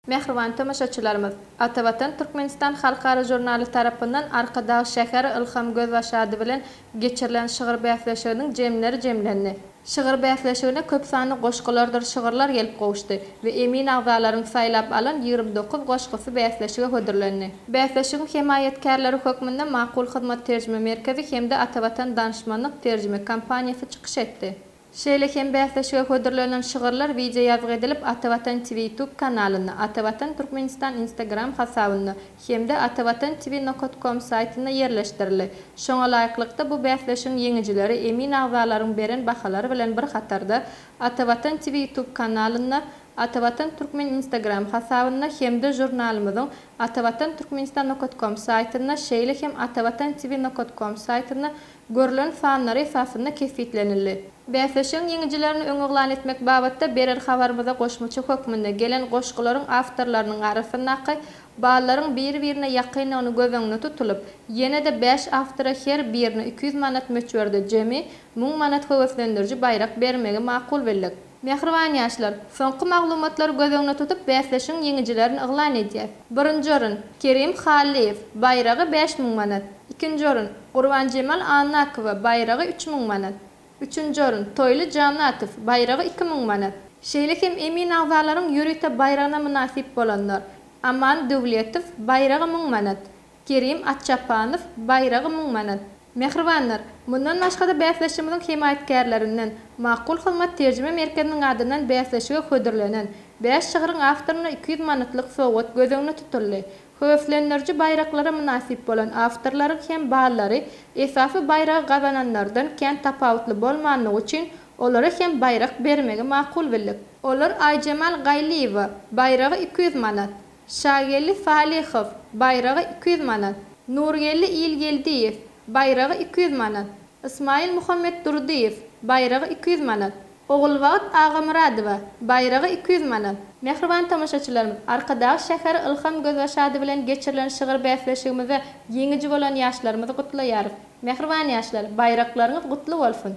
Mähriban tomaşaçylarymyz, Ata Watan Türkmenistan halkara žurnaly tarapyndan Arkadag şäheri Ylham Gözbaş ady bilen geçirilen şygyr bäsleşiginiň jemleri jemlendi. Şygyr bäsleşigine köp sanly goşgulardyr şygyrlar gelip gowuşdy we emin agzalaryň saýlap alan ýigrimi dokuz goşgusy bäsleşige hödürlendi. Bäsleşigiň hemaýatkärleri hökmünde Makul Hyzmat terjime merkezi hem-de Ata Watan Danyşmanlyk terjime kompaniýasy çykyş etdi. Şeýle hem bäsleşige hödürlenen şygyrlar wideoýazgy edilip, Atavatan TV YouTube kanalynda, Atavatan Türkmenistan Instagram hasabynda hem-de Atavatan TV nokat kom saýtynda ýerleşdirildi. Şoňa laýyklykda, bu bäsleşigiň ýeňijileri emin agzalaryň beren bahalary bilen bir hatarda, Atavatan TV YouTube kanalynda, Atavatan Türkmen Instagram hasabynda hem-de žurnalymyzyň Atavatan Türkmenistan nokat kom saýtynda, şeýle hem Atavatan TV nokat kom saýtynda görlen sanlary esasynda kesgitlenildi. Bäsleşigiň ýeňijilerini öňüglan etmek babatda berer habarymyza goşmaça hökmünde gelen goşgularyň awtorlarynyň arasyndaky ballaryň bir-birine ýakyndygyny göz öňünde tutulyp, ýene-de bäş awtora her birine iki ýüz manat möçberde jemi müň manat höweslendiriji baýrak bermegi makul bildik. Mähriban ýaşlar! Soňky maglumatlary göz öňüne tutup bäsleşigiň ýeňijilerini yglan edýäs. Birinji orun, Kerim Hallyýew, baýragy bäş müň manat. Ikinji orun, Gurbanjemal Annakowa, baýragy üç müň manat. Üçünji orun, Toýly Janatow, baýragy iki müň manat. Şeýle hem emin agzalaryň ýörite baýragyna mynasyp bolanlar, Aman Döwletow, baýragy müň manat. Kerim Atçapanow, baýragy müň manat. Mähribanlar, mundan başga-da bäsleşigimiziň hemaýatkärlerinden, Makul hyzmat terjime merkeziniň adyndan bäsleşige hödürlenen bäş şygryň awtoryna iki ýüz manatlyk sowgat göz öňüne tutuldy. Höweslendiriji baýraklara mynasyp bolan awtorlaryň hem ballary esasy baýragy gazananlardan kän tapawutly bolmanlygy üçin olara hem baýrak bermegi makul bildik. Olar Aýjemal Gaýlyýewa, baýragy iki ýüz manat, Şageldi Salyhow, baýragy iki ýüz manat, Nurgeldi Ilgeldiýew, baýragy iki ýüz manat, Ysmaýyl Muhammetdurdyýew, baýragy iki ýüz manat, Ogulbagt Agamyradowa, baýragy iki ýüz manat. Mähriban tomaşaçylarymyz, Arkadag şäheri Ylham Gözbaşady bilen geçirilen şygyr bäsleşigimizde ýeňiji bolan ýaşlarymyzy gutlaýarys. Mähriban ýaşlar, baýraklaryňyz gutly bolsun!